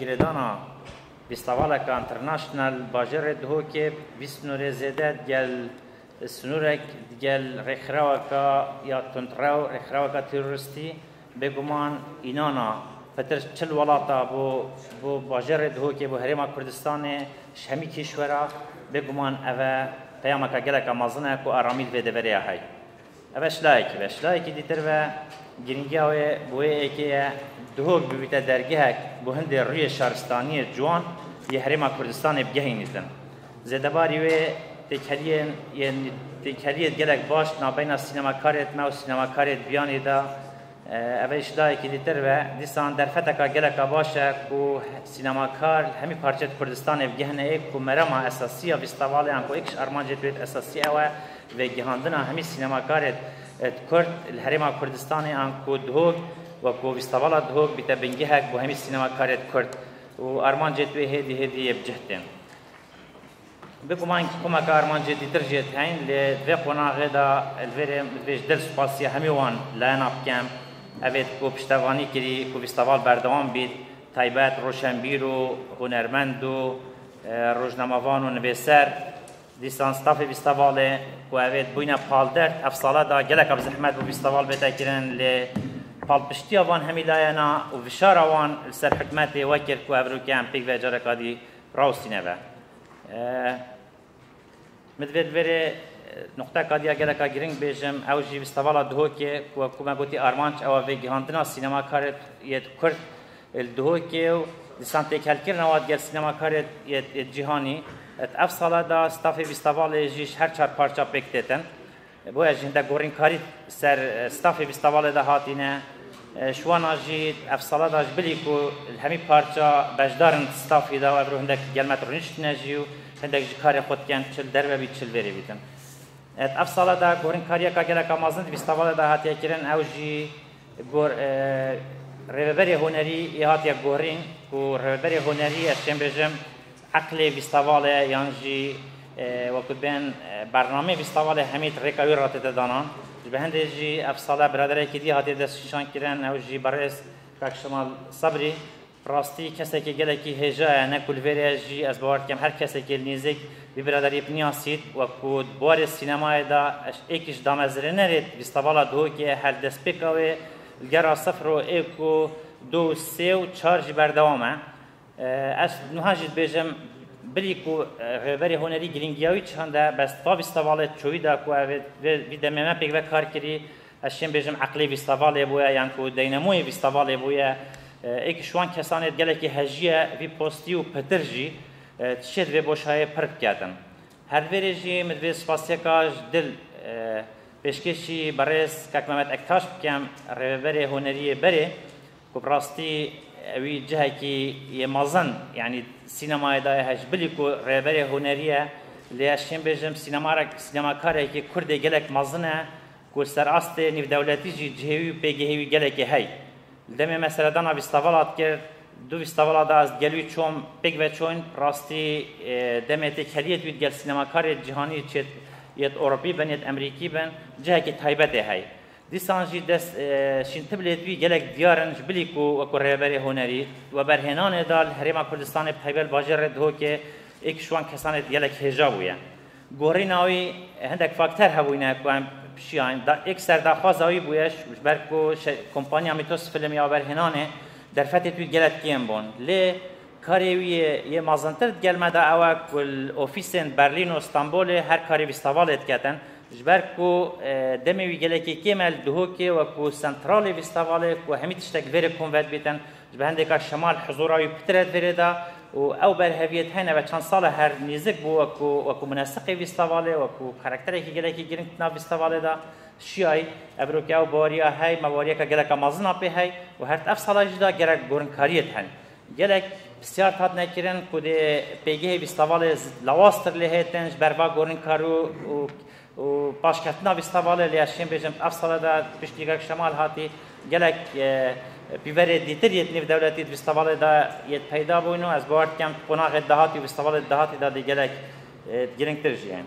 Girêdana Bîstavaleka International Bajêrê Dihokê vî sinûrê zêde digel sinûrek digel rêkxireweka ya tundrew, rêkxireweka terorîstî bêguman înana pitir çil welata bo bo bajêrê Dihokê bo Herêma Kurdistanê ji hemî kîşwera bêguman ev e peyameka geleka mezin e ku aramî li vê deverê ya heye. Reş Laik Reş Laikî dîtir ve girîngiya wê bi wê êkê ye dihok bibîte dergehek bo hindê rûyê şaristaniyê ciwan yê Herêma Kurdistanê bigehînî din. Zêdebarî wê têkheliyên yên têkheliyê gelek baş di navbeyna sînemakarê dime û sînemakarê di biyanê de Ev ê ji dayekî dîtir be. Dîsan derfeteka geleka baş e ku sînemakar li hemî parçeyê di Kurdistanê bigihine ê ku merama esasî ya fîstivaleyan ku êkiş armancê tu yê di esasî ew e vegihandina hemî sînemakarê kurd li herêma Kurdistanê an ku dihok wekû fîstivala dihok bîte bingehek bo hemî sînemakarê kurd û armancê tu yê hêdî hêdî yê bi cih tên. Bêguman koma ke armancê dîtir jê diheyîn lê di vê qonaxê de li vê rê min dibêj dil spasiya hemî wan layena bikem. Ev ê ku piştevanî kirî ku fîsteval berdewam bît taybet roşenbîr û hunermend û rojnamevan û nivêser dîsan stafê fîstevalê ku ev ê bûyne paldert ev sale de geleka bi zehmet bû fîsteval bête kirin lê palpiştiya van hemî layena û vişara wan li ser hikûmetê wekir ku ev rûke em pêk ve careka dî Rawestîne ve. Min divê li vêrê nuqteka diya geleka girîng bêjim, ew jî Vistevala Duhokê ku weku me gotî armanc ew e vêgihandina sînemakarê yê Kurd li Duhokê û dîsan têkhelkirina wan gel sînemakarê yê cîhanî. Ev sala de stafê Vistevalê jî ji her çar parça pêk têtin. Bo ez jî hindek gorînkarî ser stafê vîstavalê de hatîne. Şiwana jî ev sala de ji bilî ku li hemî parça beşdar in stafî de û ev rû hindek gel me rûniştine jî û hindek jî karê xwe dikin çil derve bî çil verê bî din. Ev sala de gorînkariyeka geleka mezin di vîstavalê de hatiye kirin ew jî gor Rêveberê Hunerî yê hatiye gorîn ku Rêveberê Hunerî ez çêm bêjim Eqlê vîstavalê yan jî wekî bên bernameyê vîstavalê hemî di rêka wî re hatête danan. Ji bi hendê jî ev sala biraderekî dî hatiye destnîşankirin ew jî berrêz Kak Şemal Sebrî. Bi rastî kesekî gelekî hêja ye, ne ku li vê rê jî ez bawer dikim her kesekî li nêzîk vî biraderî biniya sît. Wekî di barê sînemayê de êkî ji damezrêne rê vîstavala Dihokê ye her destpêka wê li gera sifir û êk û du û sê û çar jî berdewam e. Ez nuha jî dibêjim bilî ku rêberê hunerî girîngiya wî çihan de bes ba vîstavalê çûyî da ku ev vî demê me pêk ve kar kirî ez şên bêjim eqlê vîstavalê bûye yan ku deynemoyê vîstavalê bûye êkî ji wan kesan ê gelekî hejîye vî postî û pitir jî tişê di vê boşayê pir bikerdim. Her di vê rê jî min divê spasiyeka ji dil pêşkêşî berêz kak Memed Ektaş bikim, rêveberê hunerî yê berê Ku bi rastî wî cihekî yê mezin yanî sînemayê da ye hej. Bilî ku rêberê hunerî ye lê ez şên bêjim sînemakarekî kurdê gelek mezin e ku ser astê nîvdewletî jî cihê wî û pêgehê wî gelekê hey. Li demê me seredana vîstavela dikir, du vîstavela da ez di gel wî çûm pêk veçûn bi rastî demê têkheliyê di wî di gel sînemakarê cîhanî çê yê ti Ewropî bin yê ti Emrîkî bin cihekî taybet ê hey. Dîsan jî dest şîn tibilêt wî gelek diyar in ji bilî ku wekû rêveberê hunerî di weberhênanê de li Herêma Kurdistanê Peybel Bajêr re dihokê ê ku ji wan kesan ê gelek hêja bûye. Guherîna wî hindek fakter hebûyne ku em pişiyayn. Yek ser daxwaza wî bûye ji ber ku kompanya Mîtos Film ya weberhênanê derfetêt wî gelek kêm bûn. Lê Karê wî yê mezintir di gel me de ew e ku li ofîsên Berlîn û Stenbolê her karê vîstevalê diketin. Ji ber ku demê wî gelekî kêm e li Duhokê wekû sentralê vîstevalê ku hemî tiştek li vê re kom ve dibîtin, ji ber hindêka şema li hizûra wî pitir e di vê rê de û ew berheviyê di heyne ve çend sal e her nêzik bû wekû wekû munesiqê vîstevalê, wekû karakterekî gelekî girîng di nav vîstevalê de şiyayî. Ev biro ku ew baweriya heye me baweriyeke geleka mezin a pê heye û her di ev sala jî de gerek gorînkariyê di hene. Gelek pisyar hat nekirin ku dê pêgehê vîstavalê lawaztir lê hêtin ji ber va gorîn kar û û paşketina vîstavalê lê ez şêm bêjim ev sala de piştî reng şemal hatî gelek pîverê dîtir yê di nêv dewletî di vîstavalê de yê peyda bûn û ez bawer dikim di qonaxê dahatî û vîstavalê di dahatî de dê gelek giringtir jî yên.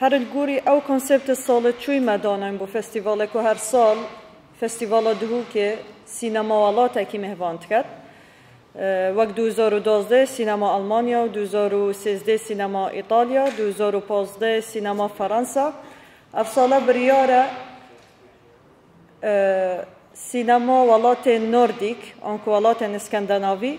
Her li gorî ew konseptê salê çûyî me danayîn bo festîvalê ku her sal Festîvala Dihûkê sînema welatekî mêvan diket. Wek du hezar û duwazdehê sînema Elmanya, du hezar û sêzdehê sînema Îtalya, du hezar û pazdehê sînema Ferensa. Ev sala biryar e sînema welatên Nordîk an ku welatên Îskendenavî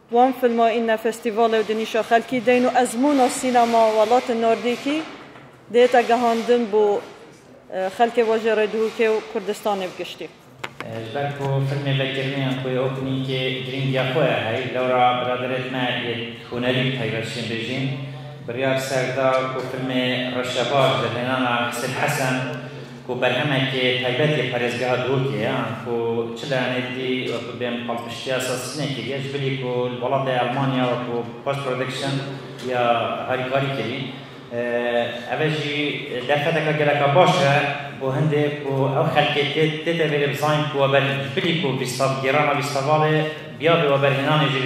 Wan filma îne festîval û di nîşa xelkî deyn û ezmûna sînema welatên Nordîkî dihêta gehandin bo xelkê Bajê Rêdûhûkê û Kurdistanê bi giştî. Ji ber ku filmê vekiriniyan ku yê opnînkê girîngiya xwe ye hey, lewra biraderek me yê hunerî bi taybet şênbêjîn biryar ser da ku filmê Reşebaş derhênana Hisên Hesen, ku berhemekê taybet yê parêzgeha Duhokê ye an ku çi layanê didî wekû bên palpiştiya sazînê kiriye ji bilî ku li welatê Elmanya wekû post production ya harîkarî kirî ev e jî derfeteke geleka baş e bo hindê ku ew xelkê tê tê tevêrê bizanîn ku weber ji bilî ku vîstavgêrana vîstavalê biyabê weberhênanê jî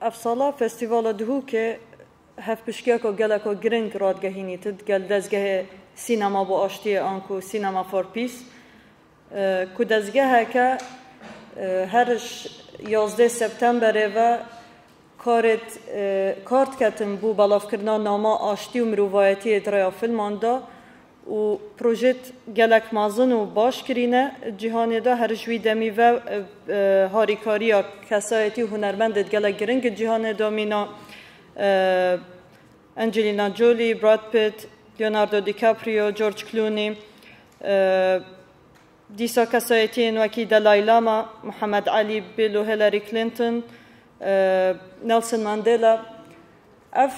Ev sala Festîvala Dihûkê hevpiştgiyeka geleko giring radigehînî tit gel dezgehê Sînema bo Aştiyê an ku Cinema for Peace ku dezgeheke her yazdeh Septemberê ve karêd kar diketin bo belavkirina nama aştî û mirovayetiyê di rêya filman de û projet gelek mezin û baş kirîne cîhanê de her ji wî demî ve harîkariya kesayetî û hunermendê gelek giring in cîhanê de mîna Angelina Jolie, Brad Pitt, Leonardo DiCaprio, George Clooney, dîsa kesayetiyên wekî Dalai Lama, Muhammed Alî, Bill û Hillary Clinton, Nelson Mandela. Ev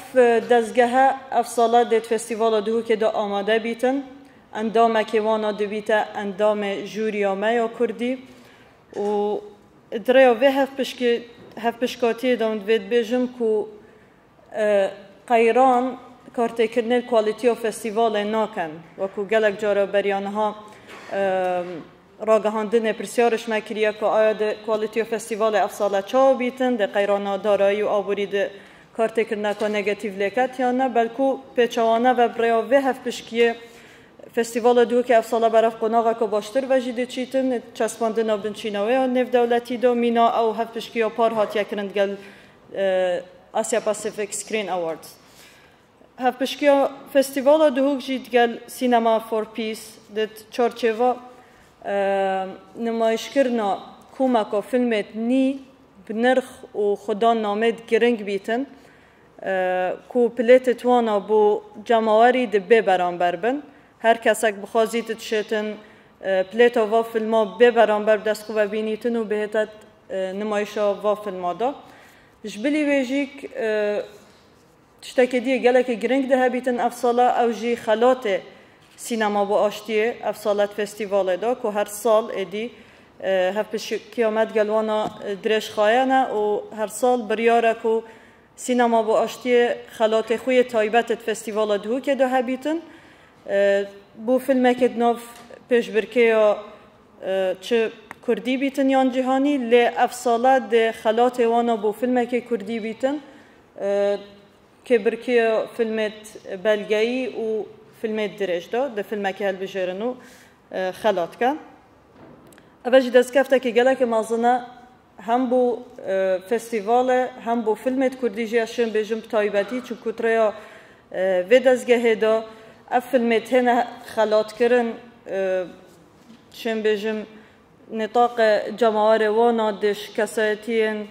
dezgehe ev sala dê di Festîvala Duhokê de amade bîtin. Endamekê wan a dibîte endamê jûrîya me ya kurdî û di rêya vê hevpişkê hevpişkatîyê de hûn divê dibêjin ku qeyran kartêkirinê li kwalîtîya festîvalê nakin wekû gelek cara beriya niha Ragihandinê pirsyarê ji me kiriye ku aya di Quality of Festivalê ev sal e çawa bîtin, dê qeyrana darayî û aborî di kartêkirina ka negatîf lê ket yan ne, belkû pêçawana ve bi rêya vê hevpişkiyê festîvala Dûhokê ev sal e berav qonaxeke baştir ve jî dê çîtin. Çespandina binçîna wê ya nêvdewletî de mîna ew hevpişkiya par hatiye kirin digel Asia Pacific Screen Awards. Hevpişkiya Festîvala Duhûk jî digel Cinema for Peace di çarçêva nimayîşkirina komeka filmê Nî bi nirx û Xuda Named giring bîtin ku pilêtê twana bo cemawerî di bê beramber bin. Her kesek bixwazî di dişêtin pilêta va filma bê beramber bi dest xwe ve bînîtin û bihêtet nimayîşa va filma de. Ji bilî wê jî Tiştekê dî gelekî girîng dihebîtin ev sala ew jî xelatê Sînema bo Aştiyê, ev salet festîvalê da ku her sal êdî hevpişkiya me digel wan a dirêj xayene û her sal biryare ku Sînema bo Aştiyê xelatê xwe yê taybet di festîvala Duhokê da hebîtin. Bo filmekê di nav pêşbirkêya çi kurdî bîtin yan cîhanî lê ev sala dê xelatê wan a bo filmekê kurdî bîtin Kêbirkiyo filmêd belgeyî û filmêd dirêj do, di filmekî hilbijêrin û xela dike. Eve jî destkeftekî gelekî mezin e hem bo festîvale hem bo filmêd kurdî jî ez şên bêjim bi taybetî çunku di rêya vê dezgehê de ev filmê têne xelatkirin şên bêjim Nîtaqê cemawerê wana diş kesayetiyên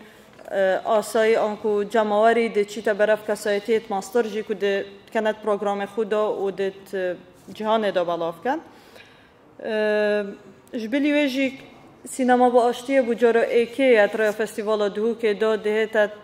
asayî anku cemawerî dê çîte ber ev kesayetiyêt master jî ku dê dikene di programê xwe de û dê di cîhanê de belav bike. Ji bilî wê jî Sînema bi Aştiyê bû cara êkê ye di rêya Festîvala Dihûkê de dihête